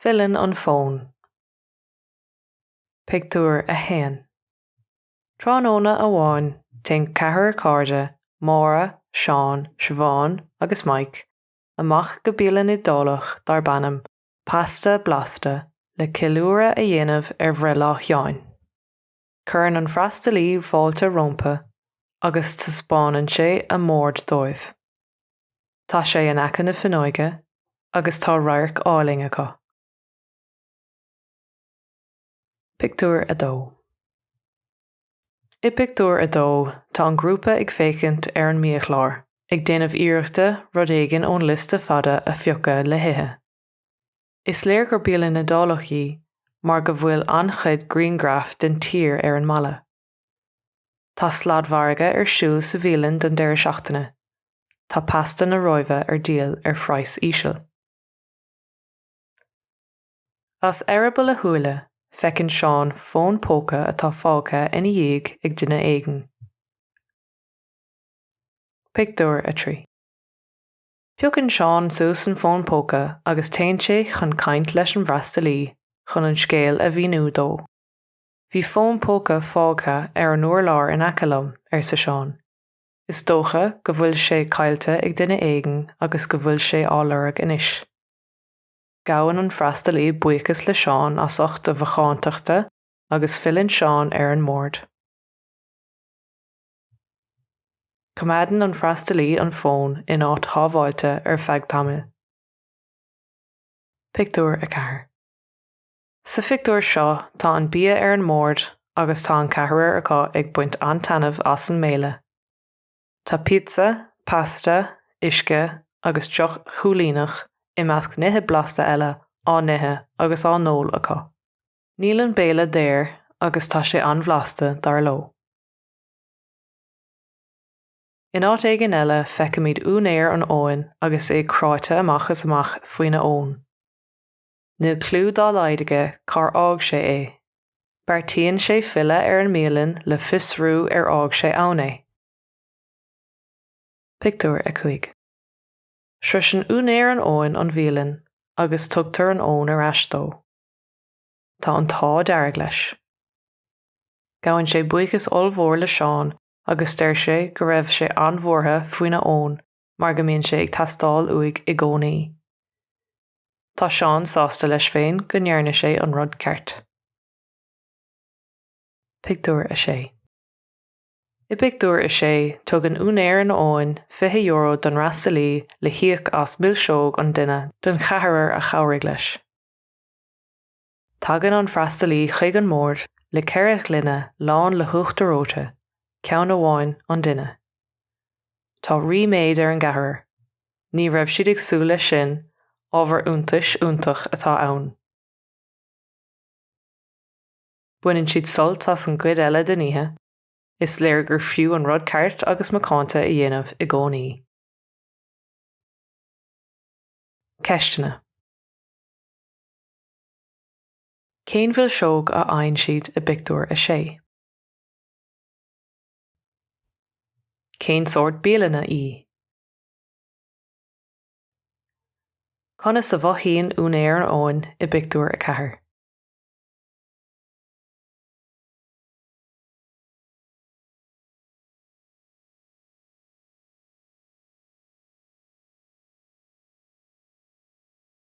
Filleann an fón. Pictiúr 1 Tráthnóna amháin téann ceathrar cairde, Máire, Seán, Siobhán agus Mike, amach go bialann Iodálach darb ainm Pasta Blasta le ceiliúradh a dhéanamh ar bhreithlá Sheáin. Cuireann an freastalaí fáilte rómpa agus taispeánann sé a mbord dóibh. Tá sé in aice na fuinneoige agus tá radharc álainn acu. Pictiúr a dó. I bpictiúr a dó, tá an grúpa ag féachaint ar an mbiachlár, ag déanamh iarrachta rud éigin ón liosta fada a phiocadh le hithe. Is léir gur bialann Iodálach í mar go bhfuil an-chuid grianghraf den tír ar an mballa. Tá sladmhargadh ar siúl sa bhialann don deireadh seachtaine, tá pasta na Róimhe ar díol ar phraghas íseal. As eireaball a shúile, feiceann Seán fón póca atá fágtha ina dhiaidh ag duine éigin. Pictiúr 3. Piocann Seán suas an fón póca agus téann sé chun caint leis an bhfreastalaí chun an scéal a mhíniú dó. Bhí fón póca fágtha ar an urlár in aice liom, arsa Seán. Is dócha go bhfuil sé caillte ag duine éigin agus go bhfuil sé á lorg anois. Gabhann an freastalaí buíochas le Seán as ucht a mhacántachta agus filleann Seán ar an mbord. Coimeádann an freastalaí an fón in áit shábháilte ar feadh tamaill. Pictiúr 4 Sa phictiúr seo tá an bia ar an mbord agus tá an ceathrar acu ag baint an-taitneamh as an mbéile. Tá píotsa, pasta, uisce agus deoch shúilíneach, i measc nithe blasta eile, á n-ithe agus á n-ól acu. Níl an béile daor agus tá sé an-bhlasta, dar leo. In áit éigin eile feicimid úinéir an fhóin agus é cráite amach is amach faoina fhón. Níl cliú dá laghad aige cár fhág sé é. Beartaíonn sé filleadh ar an mbialann le fiosrú ar fhág sé ann é. Pictiúr 5 Sroiseann úinéir an fhóin an bhialann agus tugtar an fhón ar ais dó. Tá an t-ádh dearg leis. Gabhann sé buíochas ollmhór le Seán agus deir sé go raibh sé an-bhuartha faoina fhón mar go mbíonn sé ag teastáil uaidh i gcónaí. Tá Seán sásta leis féin go ndearna sé an rud ceart. Pictiúr 6 I bpictiúr a sé, tugann úinéir an fhóin fiche euro don fhreastalaí le híoc as milseog an duine den cheathrar a chabhraigh leis. Tagann an freastalaí chuig an mbord le ceithre ghloine lán le huachtar reoite, ceann amháin an duine. Tá ríméad ar an gceathrar. Ní raibh siad ag súil leis sin, ábhar iontais iontach atá ann. Baineann siad sult as an gcuid eile den oíche, is léir gur fiú an rud ceart agus macánta a dhéanamh i gcónaí. Ceisteanna. Cén mhilseog a fhaigheann siad i bpictiúr a sé? Cén sórt bialann í? Conas a mhothaíonn úinéir an fhóin i bpictiúr a ceathair?